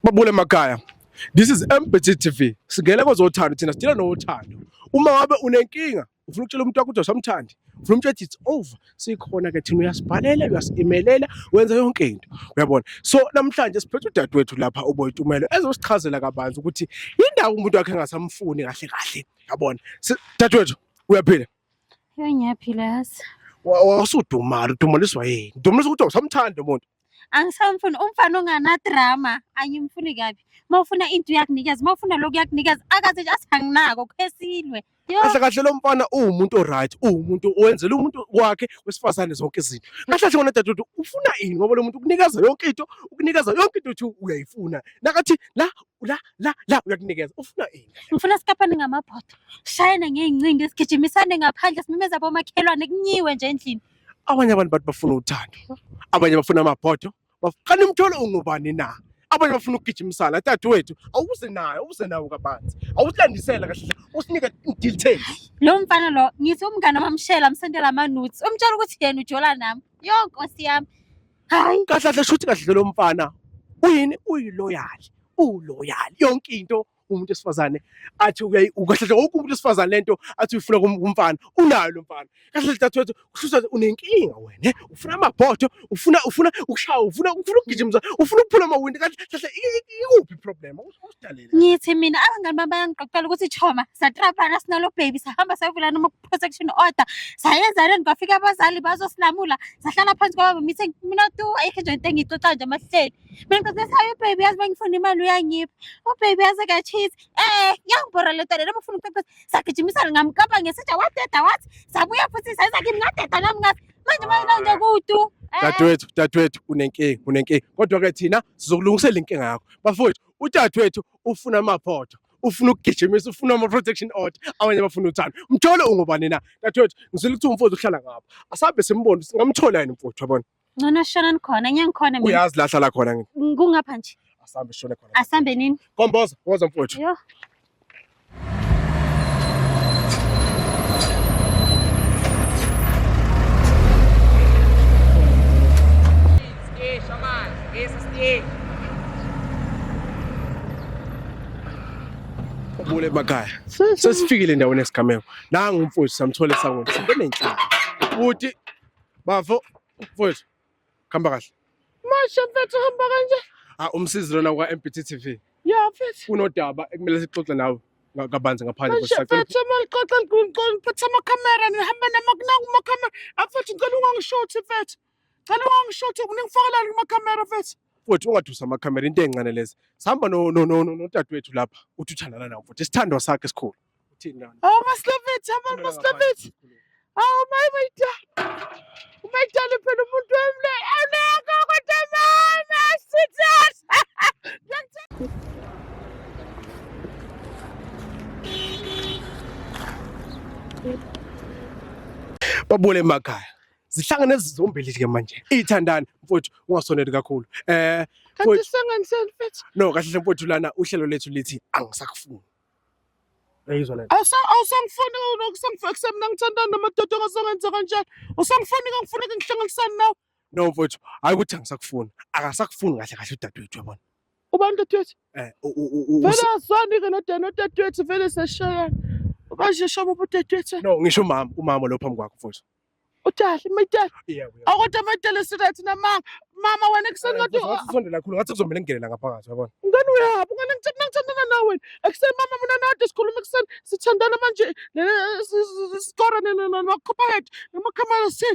Babule Makaya This is MBT TV. Singele kozothando thina sidila nothando. Uma wabe unenkinga ufuna ukutshela umuntu wakho ukuthi usamthandi. Ufuna umtshela it's over. Sikhona ke thina uyasibhalela, uyasimelela, wenza yonke into. Uyabona? So namhlanje siphethe udadewethu lapha uBoytumelo ezosichazela kabanzi ukuthi indawo umuntu wakhe engasamfuni kahle kahle. Uyabona? Dadewethu uyaphila? Ngiyaphila yazi. Wasudumala, udumeliswa yini? Udumeliswa ukuthi usamthanda umuntu. angisamfuni umfana onganadrama angimfuni kabi uma ufuna into uyakunikeza uma ufuna lokhu uyakunikeza akathi nje athi anginako khesilwe Yo, kahle kahle lo mfana uwumuntu oright uwumuntu owenzela umuntu wakhe wesifazane zonke izinto kahle kahle ngona dadewethu ufuna ini ngoba lo muntu ukunikeza yonke into ukunikeza yonke into uthi uyayifuna nakathi la la la la uyakunikeza ufuna ini ngifuna sikaphane ngamabhodo shayane ngey'ncingo esigijimisane ngaphandle simemeza bomakhelwane kunyiwe nje endlini Abanye abantu bathi bafuna uthando, abanye bafuna amabhodo. Kanti umtholo ungubani na? Abanye bafuna ukugijima isala. Dadewethu, awuze nayo, awuze nawo kabanzi. Awusilandisela kahle, usinike details. Lo mfana lo ngithi umngane wamshela amsendela amanuts. Umtshela ukuthi yena ujola nami. Yo Nkosi yami. Hayi. Kahle kahle shuthi kahle lo mfana. Uyini uyiloyali. Uloyali. Yonke into umuntu wesifazane athi uyayi kahle kahle wonke umuntu wesifazane lento athi uyifuna kum- kumfana unayo lo mfana kahle kahle dadewethu kuhlusa unenkinga wena ufuna amabhodo ufuna ufuna ukushaya ufuna ufuna ukugijimisa ufuna ukuphula amawindi kahle kahle i- i- ikuphi problem usidalele ngithi mina abangani bami bayangixoxela ukuthi choma satrapana sinalo baby sahamba sayovula noma ku-protection order sayenzaneni kwafika abazali bazosilamula sahlala phansi kwababa mithe mina tu ayikho nje into engiyixoxa nje amahleli Mina ngicela sayo ubaby yazi bengifuna imali uyangipha. Ubaby yazi ka cheat. Eh, yangibhora le tole lobufuna ukucacisa. Sagijimisana ngamkapa ngesitsha wadeda wathi sabuya futhi sayiza kimi ngadeda nami ngathi manje mayina nje kudu. Eh. Dadewethu, dadewethu unenkinga, unenkinga. Kodwa ke thina sizokulungisela inkinga yakho. Bafowethu, udadewethu ufuna amaphoto. ufuna ukugijimisa ufuna ama-protection order abanye bafuna uthando mthole ungubani na dadewethu ngizile ukuthi umfowethu uhlala ngapha asabe simbona singamthola yini mfowethu yabona Ngcono shonani khona, ngeke ngikhone mina. Uyazi lahla la khona ngi- Ng- Kungapha nje. asambe shone khona. Asambe nini? Komboza, woza mfowethu. Yo. Ubule emakhaya. Sesifikile endaweni yesigameko. Nangu umfowethu samthola esangweni. Sibe nenhlamba. Futhi Bafo, mfowethu. Khamba kahle. Masha mfethu hamba kanje. Ah umsizi lona kwa MBT TV. Ya mfethu. Kunodaba ekumele sixoxe nawe kabanzi ngaphandle kwesacela. Mfethu malixoxa ngicela ngiphathe ama camera nihamba nama kunangu ama camera. Afethu ah, ngicela ungangishothi mfethu. Cela ungangishothi uningifakalela kuma camera mfethu. Mfowethu ungadusa ama camera into encane lezi. Sihamba no no no nodadewethu lapha. Uthi uthandana nawo mfowethu. Isithandwa sakhe esikhulu. Uthini lana? Awu maslavethi, abantu maslavethi. Awu mayi mayida. Umayidala phela umuntu wami le. Awuleka kodwa mama, sweetheart. Babule emakhaya. Zihlangene ezizombili ke manje. Ithandani mfowethu ungasoneli kakhulu. Eh Kanti mfowethu- sengani seni mfethu? no kahle hle mfowethu lana uhlelo lethu lithi angisakufuni. uyayizwa le nto Awusa- awusangifuni nokusangifuna kusemna ngithandana namadoda ongazongenza kanjani usangifuni kangifuneka ngihlanganisane nawe no mfowethu hayi ukuthi angisakufuni akasakufuni kahle kahle udadewethu yabona ubani dadewethu Eh, u- u- u- u- vele usi- azwani-ke nodani odadewethu vele seshayana ubasheshaba ubudadewethu no ngisho umama umama lo phambi kwakho mfowethu Udali mayidala. Akodwa mayidala straight namanga. Mama wena kuseni ngathi usondela kakhulu ngathi kuzomela ngingenela ngaphakathi yabona. Ngani uyaphi? Ngani ngithanda ngithandana nawe. Ekuseni mama mina nade sikhuluma ekuseni sithandana manje sikora namakhopha head namakhamera si.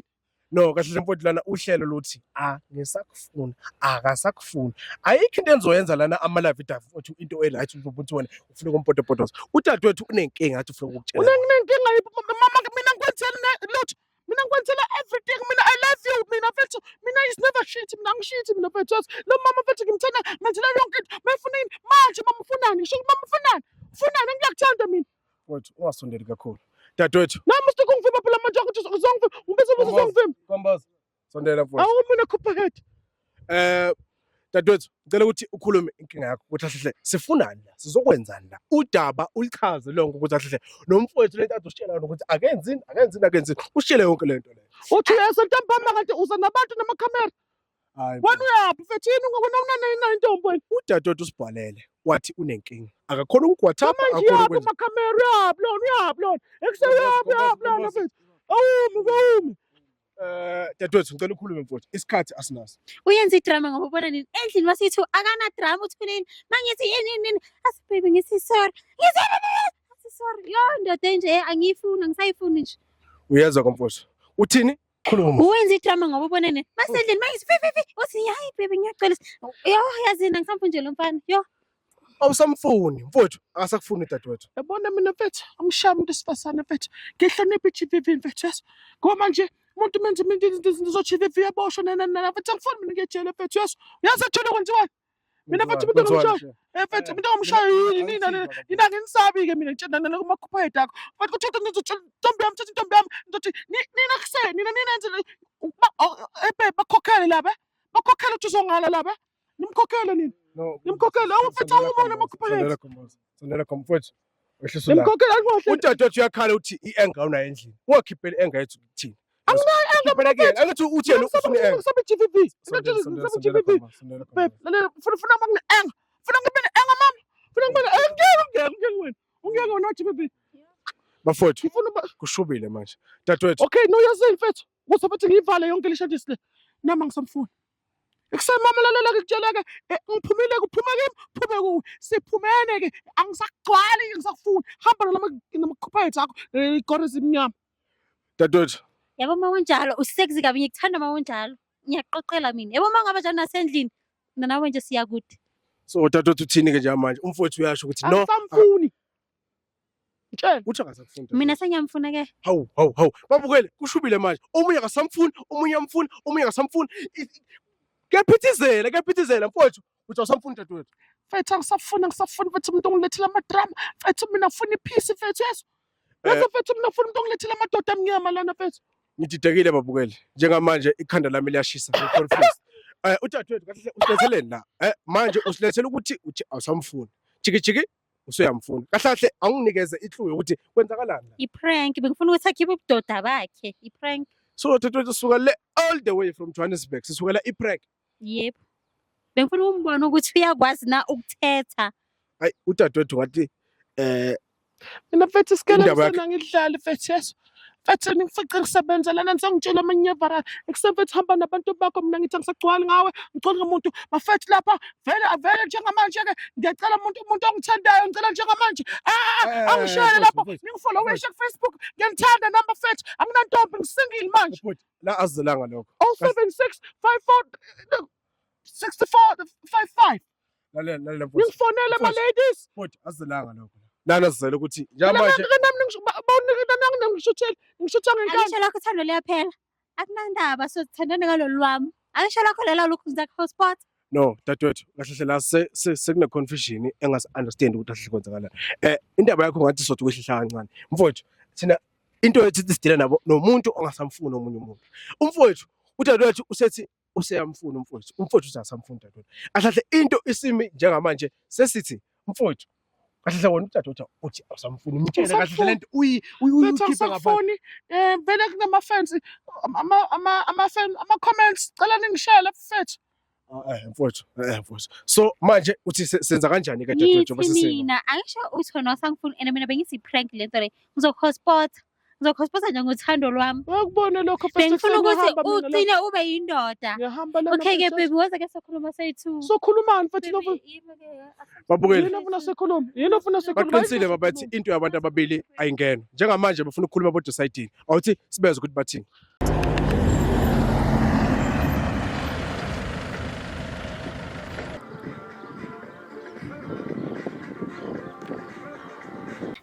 No kahle nje mfowethu lana uhlelo luthi a ngisakufuna akasakufuni. Ayikho into enzoyenza lana ama live idafu into e right ukuthi wena ufuna ukumpotopotoza udadewethu unenkinga athi ufuna ukukutshela unenkinga yiphi mama mina ngikwenzela lutho mina ngikwenzela everything mina i love you mina fethu mina is never shit mina ngishithi mina fethu lo mama fethu ngimthanda ngenzela yonke into mayifuna yini manje mama ufunani ngisho mama ufunani ufunani ngiyakuthanda mina wethu ungasondeli kakhulu dadewethu nami usuke ungivimba phela manje ukuthi uzongivimba ungibese ukuthi uzongivimba kombaza Sondela mfowethu. Awu mina khupha head. Eh dadwethu ngicela ukuthi ukhulume inkinga yakho ukuthi ahle sifunani la sizokwenzani la udaba ulichaze lonke ukuthi ahle nomfowethu lento adositshela yona ukuthi akenzini akenzini akenzini ushile yonke lento leyo uthi yesentambama kanti uza nabantu namakhamera hayi wena uyaphi mfethu yini ngokuna unanayina intombi wena udadewethu usibhalele wathi unenkinga akakhona ukugwathapa manje yaphi amakhamera yaphi lona yaphi lona ekuseyaphi yaphi lona mfethu awumi awumi Eh dadewethu ngicela ukhulume mfowethu. Isikhathi asinaso. Uyenza idrama ngoba ubona nini? Endlini wasithi akana drama uthi kunini? Mangithi yini yini yini? Asi baby ngithi sorry. Ngithi asi sorry. Yo ndoda enje eh, angiyifuni angisayifuni nje. Uyezwa komfowethu. Uthini? Khuluma. Uyenza idrama ngoba ubona nini? Masendlini mangithi fi fi fi. Uthi hayi baby ngiyacela. Yo yazini angisamfuni nje lo mfana. Yo. awusamfuni mfowethu akasakufuni dadewethu yabona mina mfethu angishaya umuntu esifasane mfethu ngihlonipha i-GBV mfethu yes ngoba manje umuntu menze mina izinto izinto zo-GBV yaboshwa nana nana mfethu angifuni mina ngiyejele mfethu yes uyazi ethule kwenziwani mina mfethu umuntu ongimshayo eh mfethu umuntu ongimshayo yini nina nina nginisabi-ke mina ngitshela nana kumakhupha yedakho mfethu kuthiwa ngizothi intombi yami thothi intombi yami ngizothi ni- nina kuseni nina ninenze le- ba- oh, eh, babe, bakhokhele laba bakhokhele ukuthi uzongala laba Nimkhokhele nini? No. Nimkhokhele awuphethe umona makhuphelele. Sondela comfort. Wehlisa la. Nimkhokhele akuhle. Udadewethu uyakhala uthi i-anger unayo endlini. Ungakhipheli i-anger yethu kuthina. Anginayo anger phela kuyena. Angithi uthi yena ufuna i-anger. Ngisabe GVV. Ngisabe GVV. Babe, lalela funa funa ngine anger. Funa ngibe ne anger mama. Funa ngibe ne anger. Ngeke ngeke ngeke wena. Ungeke wena GVV. Bafowethu. Ngifuna kushubile manje. Dadewethu. Okay, no yazini mfethu. Kuzobe kuthi ngiyivale yonke le shadisi le. Nama ngisamfuni. Ekuseni mama lalela ngikutsheleke eh, ngiphumile kuphume kimi phume kuwe siphumene ke angisakugcwali ngisakufuni hamba nalama namaqhupha ethu akho eh, igora ezimnyama dadewethu yabo uma unjalo usexy kabi ngikuthanda uma unjalo ngiyaqoqela mina yabo uma ngaba njalo nasendlini mina nawe nje siyakude so dadewethu uthini ke njalo manje umfowethu uyasho ukuthi no angisamfuni Mtshela. Uthi akasakufuni. Mina sengiyamfuna ke. Hawu, hawu, hawu. Babukele, kushubile manje. Omunye akasamfuni, omunye amfuni, omunye akasamfuni. Kuyaphithizela, kuyaphithizela mfowethu. Uthi awusamfuni dadewethu. Mfethu angisafuni angisafuni mfethu umuntu ongilethela amadrama. Mfethu mina ngifuna iphisi mfethu yeso. Yazi eh. mfethu mina ngifuna umuntu ongilethela amadoda amnyama lana mfethu. Ngididekile babukele. Njengamanje ikhanda lami liyashisa. Eh udadewethu kahle usiletheleni la. Eh manje usilethela ukuthi uthi awusamfuni. Jiki jiki usuyamfuna kahle kahle awunginikeze iclue yokuthi kwenzakalani la i-prank bengifuna ukuthi akhiphe ubudoda bakhe i-prank so thethwethu suka le all the way from johannesburg sisukela i-prank yebo bengifuna umbone ukuthi uyakwazi na ukuthetha ayi udadewethu wathi eh mina mfethu isikele Indaba yakhe- msana ngidlale mfethu yeso Mfethu ngifice ngisebenza lana nisangitshela amanye avara ekuseni mfethu hamba nabantu bakho mina ngithi angisagcwali ngawe ngigcwali ngomuntu bafethu lapha vele avele njengamanje-ke ngiyacela umuntu umuntu ongithandayo ngicela njengamanje ah, ah, ah, Eh, angishayele bhuti, lapho bhuti, ningifolowishe kufacebook ngiyanithanda nami bafethu anginantombi ngisingile manje bhuti, la azelanga lokho. 076 54 64 55 lalela lalela mfowethu ningifonele ma ladies mfowethu azelanga lokho nana sizele ukuthi njenganje nami ningishuthele ngishuthwa ngenkani angisho lakho thando liyaphela akunandaba so sithandane ngalolu lwami angisho lakho lela lokhu ngizakho hotspot no dadewethu kahle hle la sekune confusion engasi understand ukuthi ahle kwenzakala eh indaba yakho ngathi sothi kwehlihla kancane mfowethu thina into ethi sidile nabo nomuntu ongasamfuni omunye umuntu umfowethu udadewethu usethi useyamfuna umfowethu umfowethu uthi asamfuni dadewethu ahlahle into isimi njengamanje sesithi mfowethu kahle wona udadewethu uthi awusamfuni umtshele kahle lento uyikhipha ngaphandle eh vele kunama fans ama ama ama fans ama comments cela ningishele mfethu ah, eh mfowethu eh mfowethu so manje uthi senza kanjani ke dadewethu bese mina angisho uthi wena wasangifuni and mina bengithi prank lento le ngizokhospotha ngizokhosiphosa nje ngothando lwami Ngakubona lokho Pastor bengifuna Xavier, ukuthi hamba mina la. ucine ube yindoda Ngiyahamba lana, okay-ke Pastor. bebi woza ke sokhuluma soyi-two Sokhulumani futhi Baby, nofuna yimi ke, asikho- Babukeli. yini ofuna sikhulume? Yini ofuna sikhulume? baqinisile babathi into yabantu ababili ayingena njengamanje bafuna ukukhuluma bodwa esayidini awuthi sibezwe ukuthi bathini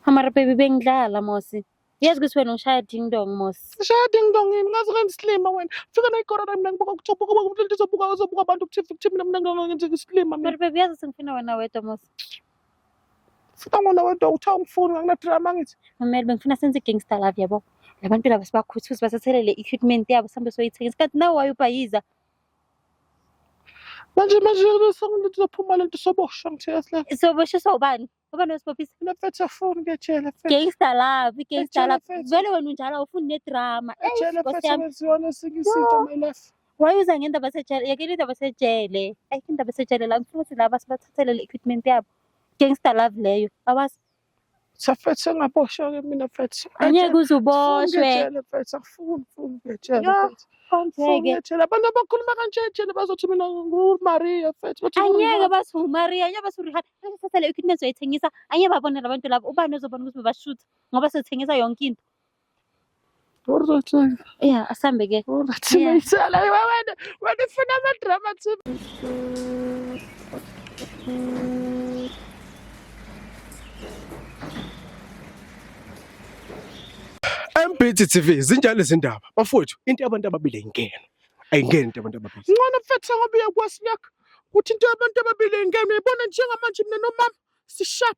Amara baby bengidlala Mosi. Yazi ukuthi wena ushaya ding dong Mosi. Shaya ding dong yini ngazi ngiyisilima wena. Fika nayi corona mina ngibuka ukuthi ubuka ubuka ubuka abantu ukuthi mina mina ngibuka ngithi isilima mina. Mara baby yazi sengifuna wena wedwa Mosi. Sibangona wedwa uthi awungifuni ngakunadrama ngithi. Mamela bengifuna senze i-gangster love yabo. Labantu laba sibakhuthuze basathelele i-equipment yabo sihambe soyithenga. Isikhathi nawe wayubhayiza. Manje manje besengithi uzophuma lento soboshwa ngithe yasla. Soboshe sobani? Ngoba nosibopisa. Le mfethu afuni kejele mfethu. Gangster love, i-gangster Ejele love. mfethu. Vele wena unjalo awufuni nedrama. Ejele mfethu Nkosi yami. wenziwa nesinye isinto my life. Why uza ngendaba esejele? Yekela indaba esejele. Ayikho indaba esejele la ngifuna ukuthi laba sibathathele le equipment yabo. Gangster love leyo. Awazi Safethu sengaboshwa-ke mina fethu. angeke uze uboshwe. Ngejele fethu angifuni ngifuni ngejele Yo, fethu. Ngifuni Konjeke. ngejele. Abantu abakhuluma kanje ejele bazothi mina nguMaria fethu. Bathi Angeke nguRihanna. bathi uMaria, angeke bathi uRihanna. Angeke sithathe le equipment uzoyithengisa. Angeke babone labantu labo. Ubani ozobona ukuthi bebashutha ngoba sethengisa yonke into. Alright. Yeah, asambe ke. Alright. Yeah. Ngiyitshela wena wena ufuna ama drama too. MBT TV zinjalo izindaba. Bafowethu into abantu ababili ingena. Ayingeni into abantu ababili. Ngcono mfethu ngoba uyakwasi lokho. Kuthi into abantu ababili ingena uyibona njengamanje mina nomama sishap.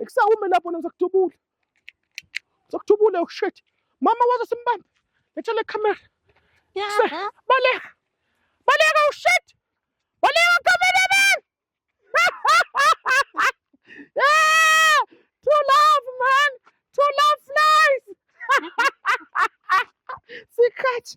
Ekusawume lapho na ngizokuthubula. Ngizokuthubula oh shit. Mama wazo simbambe. Letha le camera. Yaba. Baleka. Baleka oh shit. Baleka camera man. yeah! True love man. True love flies. Sikhathi.